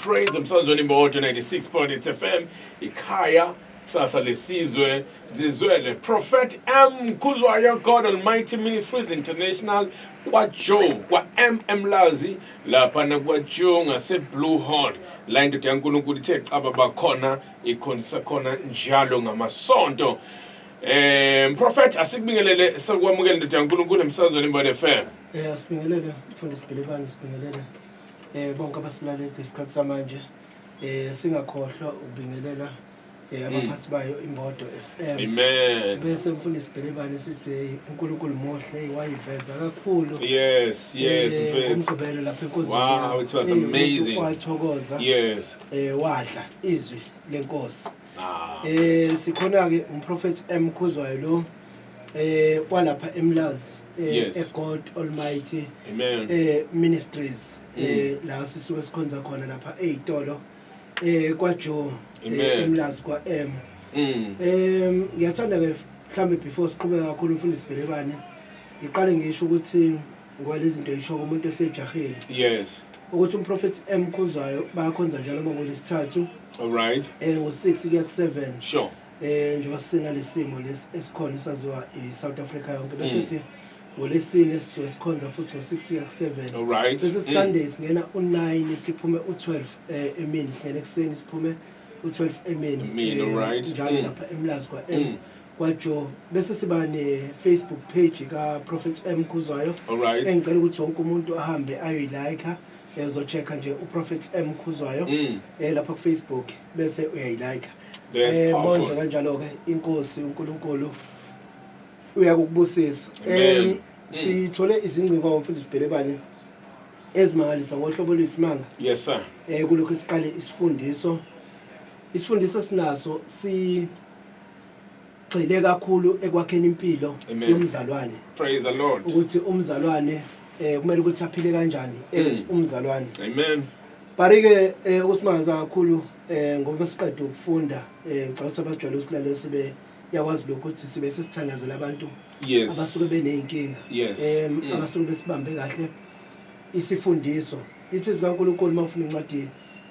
Praise emsazweni Mojo 96.8 FM ikhaya sasa lesizwe zizwele Prophet M Khuzwayo God Almighty Ministries International kwaJoe kwaM Mlazi lapha nakwaJoe ngase Blue Horn la indoda yaNkulunkulu ithe caba bakhona ikhonisa khona njalo ngamasonto Eh Prophet asikubingelele sekwamukela indoda yaNkulunkulu emsazweni Mojo FM Eh asibingelele mfundisi Bhilibani sibingelele eh bonke abasilaleli ngesikhathi samanje eh singakhohlwa ukubingelela eh hmm. abaphathi bayo imodo FM amen bese mfundisi Bhelebane sithi uNkulunkulu muhle wayiveza kakhulu yes yes eh, mfethu umgqibelo lapha enkozini wow it was eh, amazing wathokoza yes eh wadla izwi lenkosi ah. eh sikhona ke umprofeti M Khuzwayo lo eh kwalapha eMlazi eh, Yes. e God Almighty Amen. eh ministries Mm. eh la sisuke sikhonza khona lapha ezitolo eh kwa Joe Amen. eh, eMlazi kwa M Mm. Em ngiyathanda ke mhlambe before siqhubeka kakhulu mfundisi Belebane ngiqale ngisho ukuthi ngwalezinto isho umuntu esejahile Yes. ukuthi umprofeti emkhuzwayo bayakhonza njalo makulesithathu All right. eh ngo6 kuya ku7 Sure. eh njengoba sinalesimo lesi esikhona esaziwa iSouth Africa yonke bese mm. sithi ngolesine sisuke sikhonza futhi ngo-6 ya ku-7 bese mm. sunday singena u-9 siphume u-12 eh, emini singena ekuseni siphume u-12 emini eh, njalo mm. lapha emlazi kwa-m kwajo bese siba ne-facebook page kaprofet m khuzwayo engicela ukuthi wonke umuntu ahambe ayoyilike ezochecka nje uprofet m khuzwayo um lapha kufacebook bese uyayilayika eh monze kanjalo ke inkosi uNkulunkulu uyakubusisa eh sithole izingcingo ngomfundisi Bhelebane ezimangalisa ngohlobo lwesimanga yes sir eh kulokho siqale isifundiso isifundiso sinaso si Gxile kakhulu ekwakheni impilo Amen. yomzalwane Praise the Lord. ukuthi umzalwane eh kumele ukuthi aphile kanjani as Mm. umzalwane Amen. Barike eh ukusimangaza kakhulu eh ngoba siqeda ukufunda eh ngicela ukuthi abajwayele usilalele sibe yakwazi lokho ukuthi sibe sesithandazela abantu Yes. abasuke beneyinkinga Yes. em Mm. abasuke besibambe kahle isifundiso ithi zikaNkuluNkulu mawufuna incwadi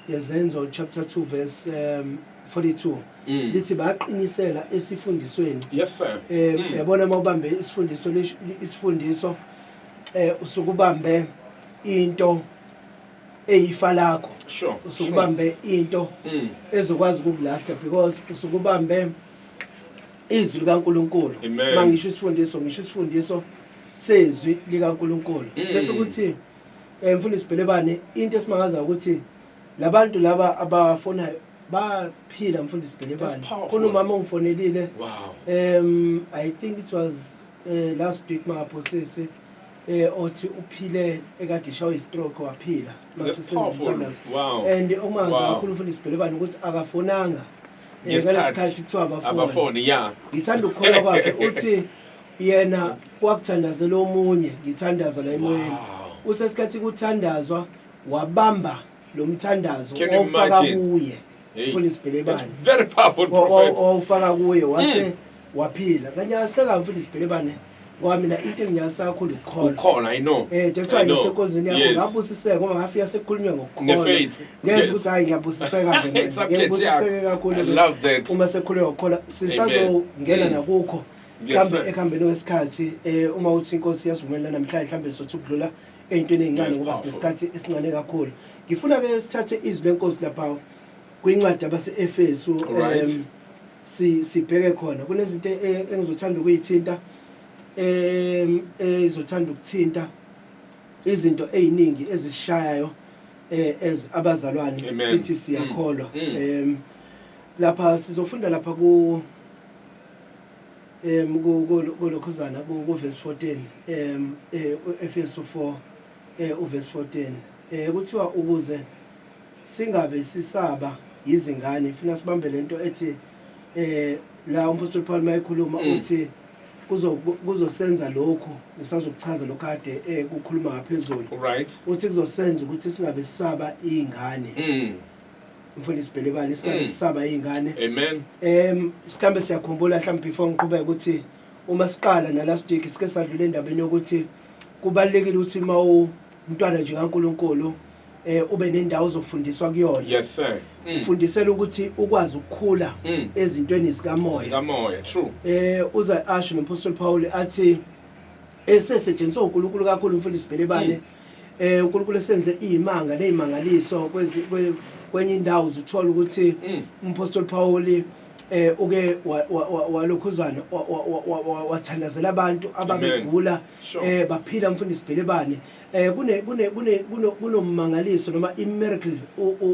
Ngezenzo chapter 2 verse um, 42 Mm. lithi baqinisela esifundisweni Yes sir. eh Mm. yabona uma ubambe isifundiso lish- isifundiso eh usuke ubambe into eyifa lakho Sure. usuke sure. ubambe into Mm. ezokwazi ukukulasta because usuke ubambe izwi likaNkuluNkulu Amen. mangisho isifundiso ngisho isifundiso sezwi likaNkuluNkulu Mm. bese kuthi Eh mfundisi Bhelebane into esimangaza ukuthi labantu laba abafonayo baphila mfundisi Bhelebane. Khona umama ongifonelile. Wow. Um I think it was uh, last week maphosisi eh othi uphile ekade ishawa istroke waphila masisenzimthandazo wow. and omangaza wow. kakhulu mfundisi Bhelebane ukuthi akafonanga eh, ngalesikhathi kuthiwa abafone yeah ngithanda ukukholwa kwakhe uthi Yena wakuthandazela omunye ngithandaza la emoyeni. Wow. Uthe isikhathi kuthandazwa wabamba lo mthandazo Can you wawufaka imagine? kuye. Hey, Full isibhelebane. that's very powerful Wa- wa- prophet. wawufaka kuye wase Mm. waphila kanye aseka mfundisi sibhelebane ngoba mina into enginyasa kakhulu ukukholwa Ukhona, I know. Eh, nje kuthiwa I know. ngisekonzweni yakho Yes. ngabusiseka ngoba ngafika sekukhulunywa ngokukholwa Nge-faith. ngezwa Yes. ukuthi hayi ngiyabusiseka ke manje. Subject ngibusiseke yakho. kakhulu I ke love that. uma sekukhulunywa ngokukholwa sisazongena Amen. nakukho mhlawumbe sir. ekuhambeni kwesikhathi um uma uthi inkosi yasivumelela namhlanje mhlawumbe sothi ukudlula ey'ntweni ey'ncane Yes, ngoba powerful. sinesikhathi esincane kakhulu ngifuna-ke sithathe izwi lenkosi lapha kwincwadi abase-efesu Alright. em, si- sibheke khona kunezinto e- engizothanda ukuyithinta um ezothanda ukuthinta izinto ey'ningi ezishayayo eh, as abazalwane Amen. sithi siyakholwa Mm, mm. um lapha sizofunda lapha ku Um, ku, ku, kulokhuzana, ku, kuvesi 14, um, eh, u-Efesu 4, eh, uvesi 14, eh, kuthiwa ukuze singabe sisaba yizingane, funa sibambe le nto ethi, eh, la umpostoli Paul mayekhuluma mm. uthi, kuzosenza lokhu ngisazokuchaza lokhu kade eh, kukhuluma ngaphezulu right uthi kuzosenza ukuthi singabe sisaba izingane mm. mfundisi Bhelebane sibane Mm. sisaba izingane Amen. em sikambe siyakhumbula mhlawumbe before ngiqhubeka ukuthi uma siqala na last week sike sadlula endabeni yokuthi kubalekile ukuthi uma umntwana nje kaNkuluNkulu eh ube nendawo zofundiswa kuyona Yes sir. Mm. ufundisela ukuthi ukwazi ukukhula Mm. ezintweni zikamoya Zikamoya. True. eh uza asho nompostoli Paul athi esesetshenziswa uNkulunkulu kakhulu umfundisi Bhelebane Eh uNkulunkulu esenze izimanga nezimangaliso kwezi kwenye indawo uzuthola ukuthi mm. umphostoli Paul eh uke walokhuzana wathandazela abantu ababegula eh baphila mfundisi Bhelebane eh kune kune kune kunomangaliso noma i miracle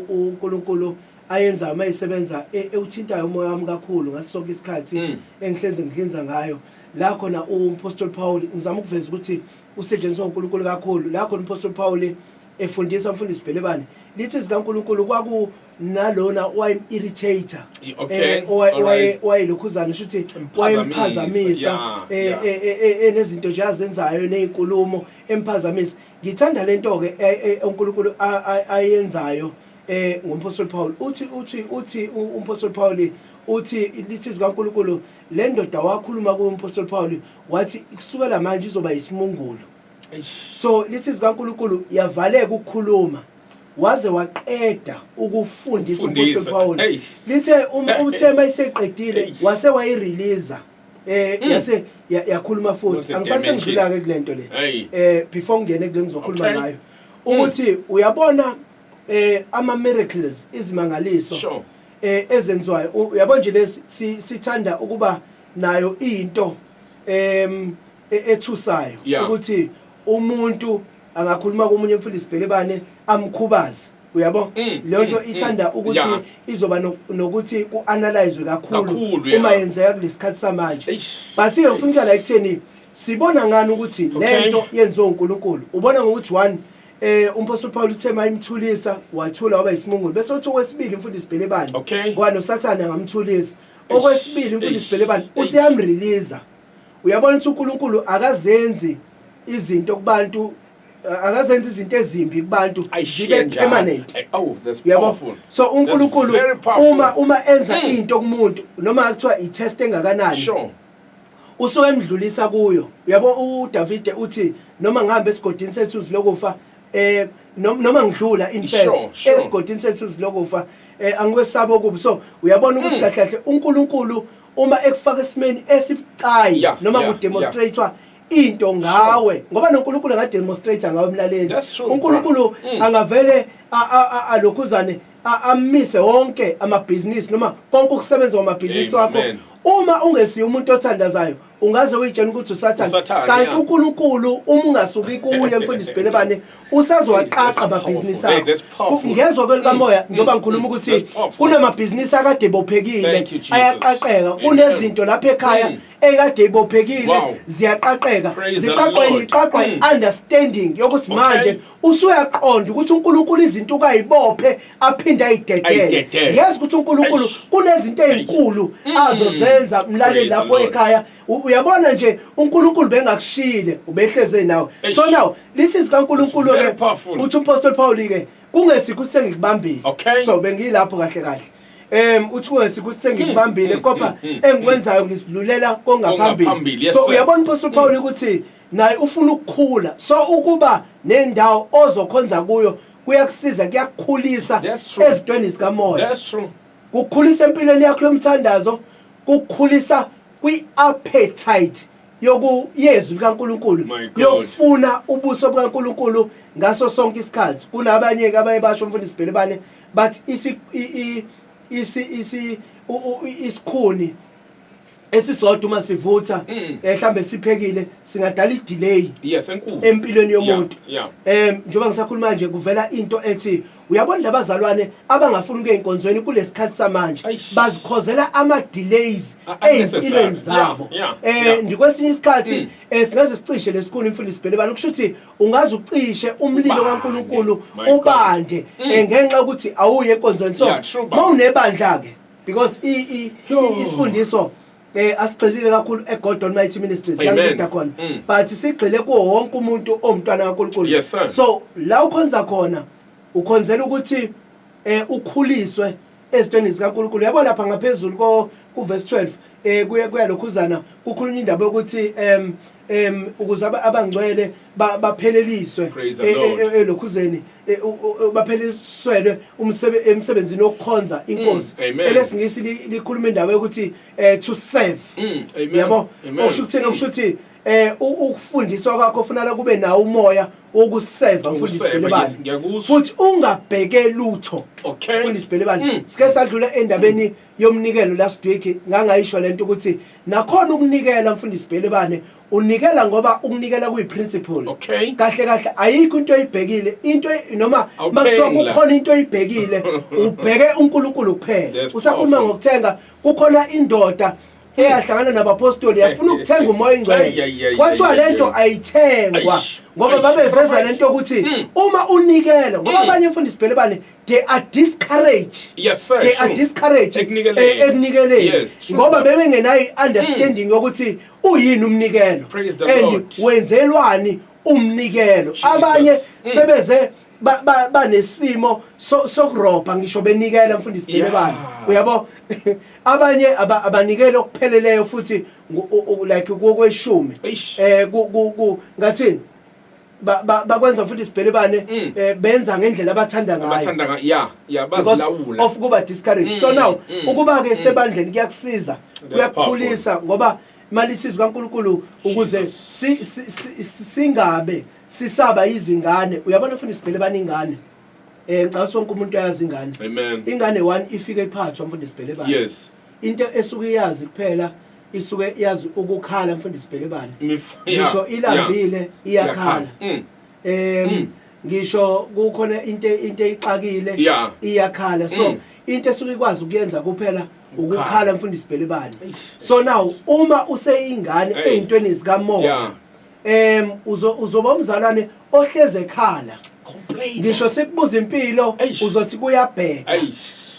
uNkulunkulu ayenza uma isebenza e, ewuthintayo umoya wami kakhulu ngasonke isikhathi mm. engihlenze ngihlinza ngayo la khona umpostoli Paul ngizama ukuveza ukuthi usetshenziswa uNkulunkulu kakhulu la khona umpostoli Pawule efundisa umfundisi Bhelebane lithi zikaNkulunkulu kwaku nalona owayim-irritator okay, eh, right. wayelokhuzana sho ukuthi wayemphazamisa eh, eh, enezinto nje azenzayo ney'nkulumo emphazamisa ngithanda le nto-ke unkulunkulu ayenzayo um ngompostoli pawuli uthi uthi uthi umpostoli pawuli uthi lithi zikankulunkulu le ndoda wakhuluma kuyo umpostoli pawuli Wathi kusukela manje izoba yisimungulu. So lithi zikaNkulunkulu yavaleka ukukhuluma waze waqeda ukufundisa umpostoli Pawulu. Lithe um, uthema iseqedile wase wayireleaser. eh mm. yase yakhuluma futhi angisase ngidlula ke kulento le eh before ngene kule ngizokhuluma ngayo mm. ukuthi uyabona eh ama miracles izimangaliso eh ezenziwayo uyabo nje lesi sithanda ukuba nayo into em e- ethusayo Yeah. ukuthi umuntu angakhuluma komunye mfundisi Bhelebane amkhubaze uyabo Mm, leyo nto mm, ithanda mm. ukuthi Yeah. izoba no- nokuthi ku-analyzwe kakhulu Kakhulu, yeah. uma yenzeka kulesikhathi samanje Eish. but-ke ngifuna ukuyala ekutheni sibona ngani ukuthi Okay. le nto yenziwe unkulunkulu ubona ngokuthi one um umphostoli pawulu uthe ma imthulisa wathula waba yisimungulu bese uthi okwesibili mfundisi bhelebane Okay. ngoba nosathane angamthulisa okwesibili umfundisi Bhelebane useyamriliza uyabona ukuthi uNkulunkulu akazenzi izinto kubantu uh, akazenzi izinto ezimbi kubantu zibe permanent eh, oh, yabo so uNkulunkulu uma uma enza hmm. into kumuntu noma kuthiwa i-test engakanani Usuke emdlulisa kuyo. Uyabo uDavide uthi noma ngihamba esigodini sethuzi lokufa eh noma ngidlula in fact sure, sure. esigodini sethuzi lokufa eh angikwesaba okubi so uyabona ukuthi mm. kahle kahle uNkulunkulu uma ekufaka esimeni esibucayi yeah, noma yeah, kudemonstratewa yeah. into ngawe sure. ngoba noNkulunkulu angademonstrate ngawe emlaleli uNkulunkulu mm. angavele alokhuzane amise wonke amabhizinisi noma konke ukusebenza kwamabhizinisi wakho uma ungesiye umuntu othandazayo ungaze uyitshela ukuthi usathane kanti uNkulunkulu uma ungasuki kuye mfundisi Bhelebane usazowaqaqa amabhizinisi akho ngezwe kwelikamoya mm, njengoba mm, ngikhuluma mm, ukuthi kunamabhizinisi akade bophekile ayaqaqeka kunezinto lapha ekhaya ekade ibophekile ziyaqaqeka ziqaqweni iqaqwa understanding yokuthi manje Usuyaqonda ukuthi uNkulunkulu izinto ukayibophe aphinde ayidedele. Ayidedele. Yazi ukuthi uNkulunkulu Eish. kunezinto ezinkulu Mm. azozenza mlaleli Praise the lapho Lord. ekhaya. U- Uyabona nje uNkulunkulu bengakushiyile ubehleze nawe. Eish. So now lithi zikaNkulunkulu Very ke powerful. uthi uPostoli Paul ke kungesikho ukuthi sengikubambile. Okay. So bengilapho kahle kahle. Em uthi kungesikho ukuthi sengikubambile mm, kodwa mm, mm, engikwenzayo ngisilulela kongaphambili. Kongaphambili, yes, so sir. uyabona uPostoli Paul ukuthi Naye ufuna ukukhula so ukuba nendawo ozokhonza kuyo kuyakusiza kuyakukhulisa ezintweni zikamoya kukhulisa empilweni yakho yomthandazo kukhulisa kwi-appetite yokuyezwi likaNkulunkulu yokufuna ubuso bukaNkulunkulu ngaso sonke isikhathi kunabanye-ke abaye basho umfundisi Bhelebane bathi isikhuni esisodwa uma sivutha mm. eh mhlambe siphekile singadala idelay yes enkulu empilweni yomuntu eh njengoba ngisakhuluma nje kuvela into ethi uyabona labazalwane abangafuni ukuya enkonzweni kulesikhathi samanje bazikhozela ama delays ezimpilweni zabo eh ndikwesinye isikhathi mm. eh, singaze sicishe lesikhulu imfundisi bhele bani kusho ukuthi ungaze ucishe umlilo kaNkuluNkulu ubande mm. eh, ngenxa ukuthi awuye enkonzweni so mawunebandla ke because i i Sure. isifundiso eh asigxilile kakhulu eGod Almighty Ministries Amen. yangida khona Mm. but sigxile kuwo wonke umuntu owumntwana kaNkulunkulu Yes, sir. so la ukhonza khona ukhonzela ukuthi eh ukhuliswe ezintweni zikaNkulunkulu yabo lapha ngaphezulu ko kuverse 12 eh kuye kuyalokhuzana kukhulunywa indaba yokuthi em em ukuze aba- abangcwele ba- bapheleliswe Praise the e- e- Lord. e- elokhuzeni e- u- u- bapheleliswelwe umsebe- emsebenzini wokukhonza inkosi Mm, amen. elesingisi li- likhuluma indaba yokuthi eh, to serve Mm, amen. yabo Amen. okusho ukuthini okusho ukuthi eh u- ukufundiswa kwakho funala kube nawo umoya wokuseva mfundisi Ukuseva, yes, Bhelebane ngiyakuzwa. futhi ungabheke lutho Okay. mfundisi Bhelebane Mm. sike sadlula endabeni yomnikelo last week ngangayisho lento ukuthi nakhona ukunikela mfundisi Bhelebane unikela ngoba ukunikela kuyi principle okay. kahle kahle ayikho into oyibhekile into noma makuthiwa kukhona into oyibhekile ubheke uNkulunkulu kuphela usakhuluma ngokuthenga kukhona indoda eyahlangana nabapostoli yafuna ukuthenga umoya ingcwele kwathiwa lento ayithengwa ngoba babeveza lento ukuthi hmm. uma unikela ngoba hmm. abanye mfundisi Bhelebane they are discouraged yes, sir, they sure. are discouraged ekunikeleni eh, yes, ngoba bebengenayo i-understanding hmm. yokuthi uyini umnikelo and wenzelwani umnikelo abanye hmm. sebeze banesimo sokurobha ngisho benikela mfundisi Dilebane uyabo abanye abanikela okupheleleyo futhi like kokweshumi eh ngathini bakwenza futhi sibhelebane mm. eh, benza ngendlela abathanda ngayobecausef ukuba discourage mm, so now mm, ukuba-ke sebandleni kuyakusiza kuyakukhulisa ngoba imali isizi kankulunkulu ukuze singabe sisaba izingane uyabona futhi sibhelebane ingane um ngicabanga ukuthi wonke umuntu ayazi ingane ingane one ifike iphathwa mfundisi bhelebane Into esuke iyazi kuphela isuke yazi ukukhala mfundisi Bhelebane ngisho ilambile iyakhala mm. em mm. ngisho kukhona into into eyixakile iyakhala so mm. into esuke ikwazi ukuyenza kuphela ukukhala mfundisi Bhelebane so now uma useyingane ezintweni zikamoya em uzo uzoba umzalwane ohleze ekhala Complain. ngisho sikubuza impilo Eish. uzothi kuyabheda Ayi.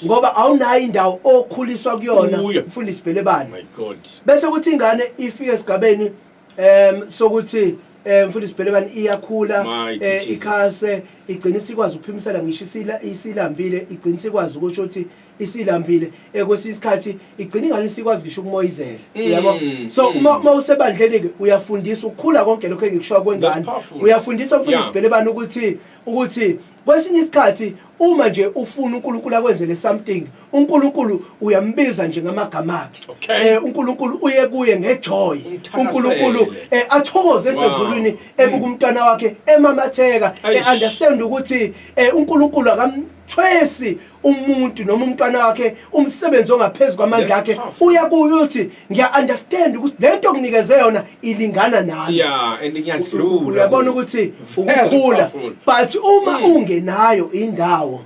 ngoba awunayo indawo okhuliswa kuyona Kuyo. mfundisi Bhelebane My God. bese kuthi ingane ifike esigabeni em sokuthi em mfundisi Bhelebane iyakhula Mighty eh, Jesus. ikhase igcina isikwazi ukuphimisela ngisho isila isilambile igcina isikwazi ukusho ukuthi isilambile eh, kwesinye isikhathi igcina ingane isikwazi ngisho ukumoyizela mm, uyabo mm, so uma mm. uma usebandleni ke uyafundisa ukukhula konke lokho engikushoya kwengane uyafundisa umfundisi yeah. belebani ukuthi ukuthi kwesinye isikhathi uma nje ufuna uNkulunkulu akwenzele something uNkulunkulu uyambiza nje ngamagama akhe okay. eh uNkulunkulu uye kuye ngejoy uNkulunkulu eh athokoze esezulwini wow. ebuka umntwana wakhe emamatheka eh understand ukuthi eh uNkulunkulu akam thwesi umuntu noma umntwana wakhe umsebenzi ongaphezu kwamandla akhe uya kuyo uthi ngiya understand ukuthi lento okunikeze yona ilingana nami yeah and ngiyadlula uyabona ukuthi ukukhula but uma mm. ungenayo indawo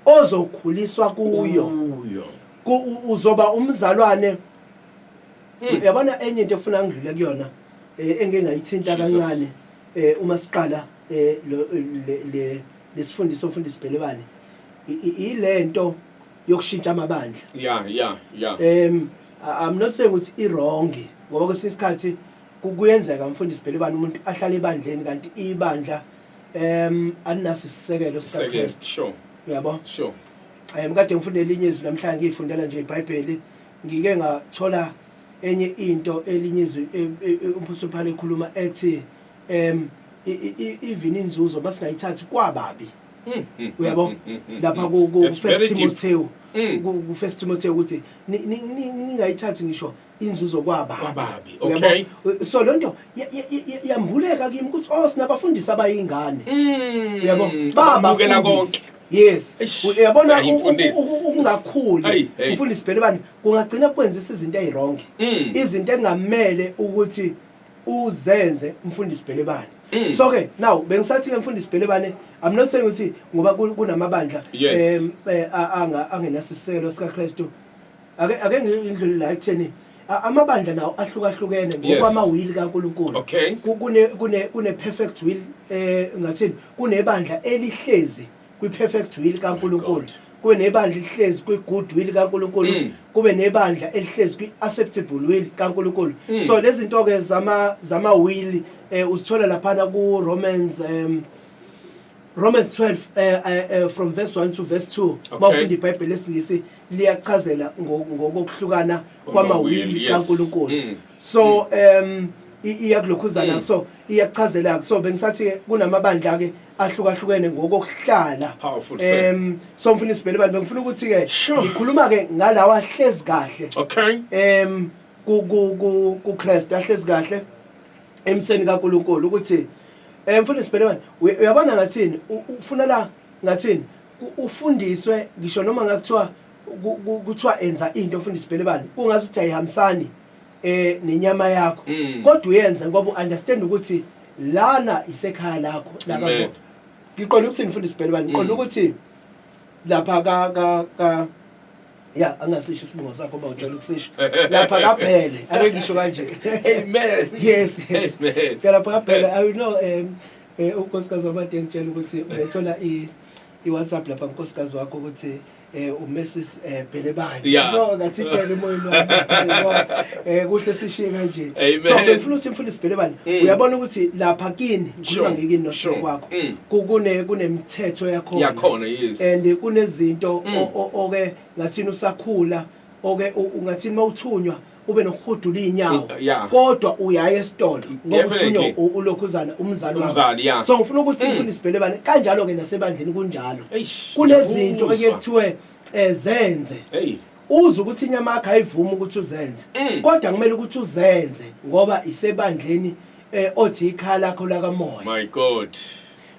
ozokhuliswa kuyo uzoba umzalwane mm. uyabona enye into efuna ngidlule kuyona eh, engingayithinta kancane eh, uma siqala eh, le lesifundiswa umfundisi Bhelebane ilento yokushintsha amabandla yeah yeah yeah um i'm not saying ukuthi i wrong ngoba kwesinye isikhathi kuyenzeka mfundisi Bhelebane umuntu ahlale ebandleni kanti ibandla um alinaso isisekelo sikaKristu sure uyabo sure eh mkade ngifunda elinye izwi namhlanje ngiyifundela nje iBhayibheli ngike ngathola enye into elinye izwi e, e, e, umphostoli Paul ekhuluma ethi em even inzuzo basingayithathi kwababi hmm, hmm, uyabo hmm, lapha ku first Timothy ku first Timothy ukuthi ningayithathi ngisho inzuzo kwababi okay so lonto yambuleka kimi ukuthi oh sinabafundisi abayingane uyabo baba ukela konke yes uyabona ukungakhuli umfundisi bani kungagcina kwenzisa izinto ezirongi izinto engamele ukuthi uzenze mfundisi Bhelebane mm. so ke now bengisathi ke mfundisi Bhelebane i'm not saying ukuthi ngoba kunamabandla yes. um, eh, anga angenasiselo sika Kristu ake ake ngindlule la ekutheni amabandla nawo ahlukahlukene ngokwamawili kaNkuluNkulu okay kune kune kune perfect will eh ngathini kunebandla elihlezi kwi-perfect will kaNkulunkulu kube nebandla elihlezi kwi-good will kaNkulunkulu mm. kube nebandla elihlezi kwi-acceptable will kaNkulunkulu mm. so lezi nto-ke zama-will um eh, uzithola laphana ku-romans um Romans 12 uh, eh, uh, eh, uh, from verse 1 to verse 2 okay. mawufunda iBhayibheli lesingisi liyachazela ngokuhlukana kwamawili kaNkuluNkulu mm. so mm. um iyakulokhuzana mm. so iyachazela so bengisathi kunamabandla ke ahlukahlukene ngokokuhlala um so ngifuna isibhele bantu bengifuna ukuthi-ke ngikhuluma-ke ngalawo ahlezi kahle um kukreste ahlezi kahle emseni kankulunkulu ukuthi um ngifuna isibhele bantu uyabona ngathini ufuna la ngathini ufundiswe ngisho noma ngakuthiwa kuthiwa enza into ofunda isibhele bantu kungazi ukuthi ayihambisani eh nenyama yakho Mm. kodwa uyenze ngoba uunderstand ukuthi lana isekhaya lakho Amen. lakho ngiqonda ukuthi nifundisi Bhele bani ngiqonda Mm. ukuthi lapha ka ka ka ya angasisho isibongo sakho ba ujwayele ukusisho lapha kaBhele ake ngisho kanje Amen. yes yes Amen. ngalapha kaBhele i will know um eh unkosikazi wamade ngitshela ukuthi uyathola i i WhatsApp lapha unkosikazi wakho ukuthi eh uMrs eh, Bhelebani yeah. so ngathi idele emoyeni wami eh kuhle sishiye kanje so ngifuna ukuthi mfundisi Bhelebani mm. uyabona ukuthi lapha kini ngikhuluma ngikini nosho kwakho mm. kune kunemithetho yakho yakhona yes and kunezinto mm. oke ngathini usakhula oke ungathini mawuthunywa ube nokuhudula izinyawo yeah. kodwa uyaya esitolo ngoba uthunyo ulokhuzana umzali umzali yeah. so ngifuna ukuthi mm. ngifuna isibhele bani kanjalo ke nasebandleni kunjalo kunezinto okuye kuthiwe eh, zenze hey uze ukuthi inyama yakhe ayivumi ukuthi uzenze mm. kodwa kumele ukuthi uzenze ngoba isebandleni eh othi ikhala lakho lakamoya my god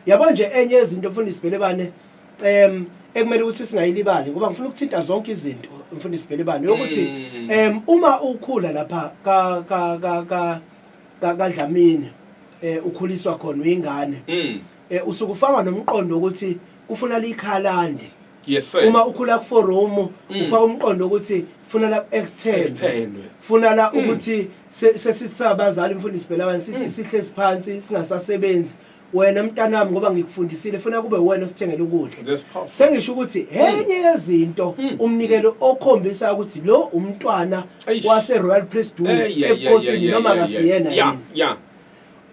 yabo nje enye izinto mfundisi Bhelebane um ekumele ukuthi singayilibali ngoba ngifuna ukuthinta zonke izinto mfundisi Belebane ukuthi mm. um uma ukhula lapha ka ka ka ka kadlamini eh ukhuliswa khona uyingane mm. eh usuke ufaka nomqondo ukuthi kufuna likhalande yes sir uma ukhula ku forum mm. ufaka umqondo ukuthi funa la extend funa la ukuthi sesisabazali mfundisi Belebane sithi sihle siphansi singasasebenzi Wena mntanami ngoba ngikufundisile funa kube uwena osithengela ukudla. That's powerful. Sengisho ukuthi enye yezinto Mm. umnikelo okhombisa ukuthi lo umntwana Eish. wase Royal Priesthood Eh, yeah, yeah, yeah, ebukhosini yeah, noma yeah, akasiyena yeah. yini. Yeah, yeah.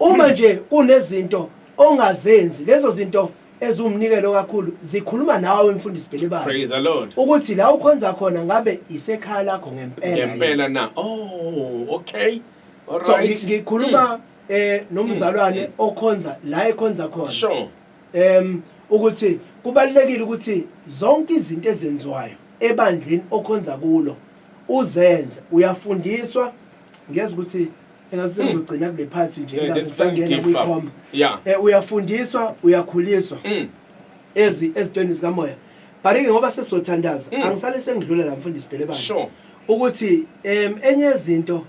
Uma nje kunezinto ongazenzi lezo zinto eziwumnikelo kakhulu zikhuluma nawe mfundisi Bhelebani Praise the Lord. ukuthi la ukhonza khona ngabe isekhaya lakho ngempela. yini. Ngempela na. Oh, okay. All So right. ngi- ngikhuluma eh nomzalwane mm. okhonza la ekhonza khona sure em ukuthi kubalekile ukuthi zonke izinto ezenziwayo ebandleni okhonza kulo uzenze uyafundiswa ngiyeza ukuthi engasizogcina kule phathi nje eh, ngisangena kwikhomba eh uyafundiswa uyakhuliswa mm. ezi ezitweni zikamoya barike ngoba sesizothandaza mm. angisale sengidlula la mfundisi Delebane ukuthi em enye izinto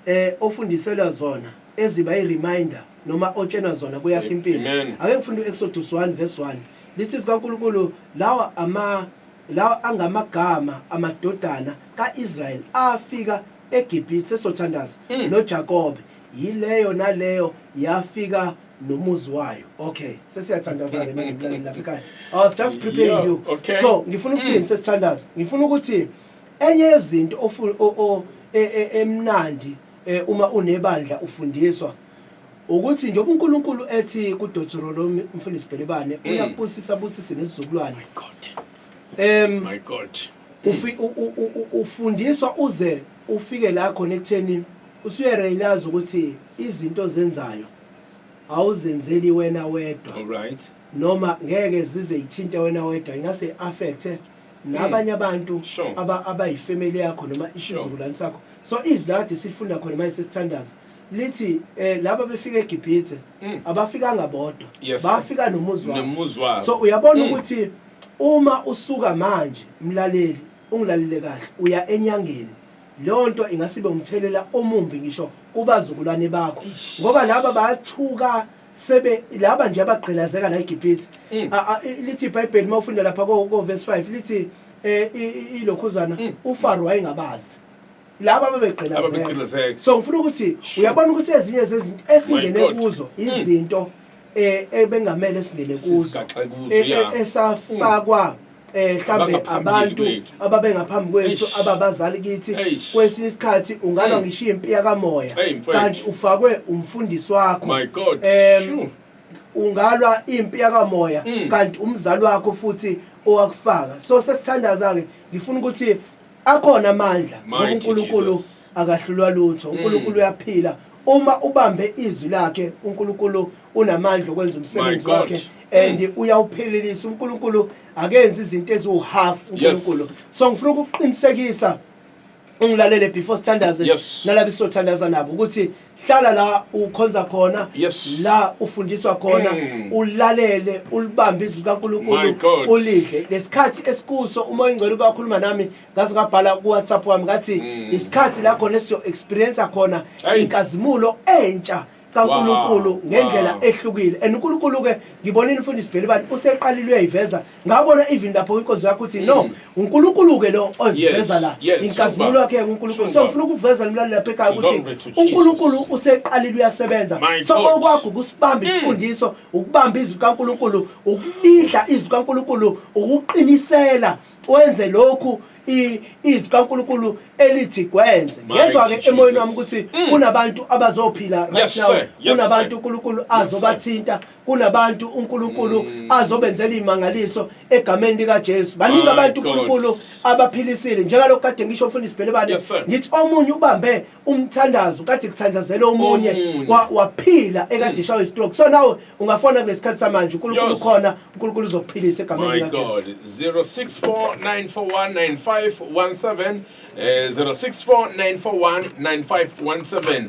e ofundiselwa zona eziba i reminder noma otshenwa zona kuyakha impilo Amen. ake ngifunda u Exodus 1 verse 1 lithi zikaNkulunkulu lawa ama lawa angamagama amadodana ka Israel afika eGibhithe sesothandaza Mm. noJakobe yileyo naleyo yafika nomuzi wayo okay sesiyathandaza ke manje mlaleli lapha ekhaya I was just preparing Yeah, you okay. so ngifuna ukuthini Mm. sesithandaza ngifuna ukuthi Enye yezinto ofu o o e e emnandi e uma unebandla ufundiswa, ukuthi njengoba uNkulunkulu ethi kuDothorolomi, uMfundisi Bhelebane, Mm. Uyakubusisa abusise nesizukulwane. My God. Em, My God. Mm. ufi- u- u- u- u- ufundiswa uze ufike la khona ekutheni usuyerealize ukuthi izinto ozenzayo awuzenzeli wena wedwa All right. noma ngeke zize ithinte wena wedwa ingase affecte nabanye hmm. abantu abayifamily yakho noma isizukulwane sakho so izwi lakade silifunda khona manje sesithandaza lithi eh laba befika eGibhithe hmm. abafikanga bodwa bafika nomuzi wabo so uyabona hmm. ukuthi uma usuka manje mlaleli ungilalele kahle uya enyangeni leyo nto ingasibe umthelela omumbi ngisho kubazukulwane bakho ngoba laba bayathuka sebe laba nje abagqilazeka la eGibhithe mm. lithi iBhayibheli mawufunda lapha ko verse 5 lithi eh ilokhuzana mm. uFaro wayengabazi laba babegqilazeka so ngifuna ukuthi uyabona ukuthi ezinye zezinto esingene kuzo mm. izinto eh ebengamele singene kuzo e, e, esafakwa eh mhlambe abantu ababengaphambi kwethu ababazali kithi kwesinye isikhathi ungalwa hmm. ngishiya impi yakamoya kanti ufakwe umfundisi wakho um ungalwa impi yakamoya hmm. kanti umzali wakho futhi owakufaka so sesithandaza-ke ngifuna ukuthi akhona amandla ngoba unkulunkulu akahlulwa lutho hmm. unkulunkulu uyaphila uma ubambe izwi lakhe unkulunkulu unamandla okwenza umsebenzi wakhe and mm. uyawuphelelisa uNkulunkulu akenzi izinto eziwuhalf uNkulunkulu so ngifuna ukuqinisekisa ungilalele before standards yes. nalabo sothandaza nabo ukuthi hlala la ukhonza khona yes. la ufundiswa khona mm. ulalele ulibambe izwi likaNkulunkulu ulidle lesikhathi esikuso uma oyingcwele ubakhuluma nami ngaze ngabhala ku WhatsApp wami ngathi mm. isikhathi la khona esiyo experience khona inkazimulo entsha kaNkulunkulu ngendlela ehlukile and uNkulunkulu ke ngibonile umfundisi Bhelibani useqalile uyayiveza ngabona even lapho inkonzo yakho uthi no mm. uNkulunkulu ke lo oziveza la inkazimulo yakhe uNkulunkulu so ngifuna ukuveza lomlaleli lapha ekhaya ukuthi uNkulunkulu useqalile uyasebenza so okwakho kusibamba mm. isifundiso ukubamba izwi kaNkulunkulu ukulidla izwi kaNkulunkulu ukuqinisela Wenze lokhu i- izwi kaNkulunkulu elithi kwenze. Mighty Ngezwa-ke Jesus. emoyeni wami ukuthi Mm. kunabantu abazophila right Yes, now. sir. Yes, Kunabantu sir. uNkulunkulu Yes, sir. azobathinta. Kunabantu uNkulunkulu Mm. azobenzela imangaliso egameni likaJesu. Baningi My abantu God. uNkulunkulu abaphilisile. Njengalokhu kade ngisho mfundisi Bhelebane Yes, sir. ngithi omunye ubambe umthandazo kade kuthandazela omunye Omunye. wa- waphila ekade ishawa istroke so nawe ungafona kulesikhathi samanje uNkulunkulu Yes. ukhona uNkulunkulu uzokuphilisa egameni My lika Jesu God. 0649419517. Eh, 0649419517.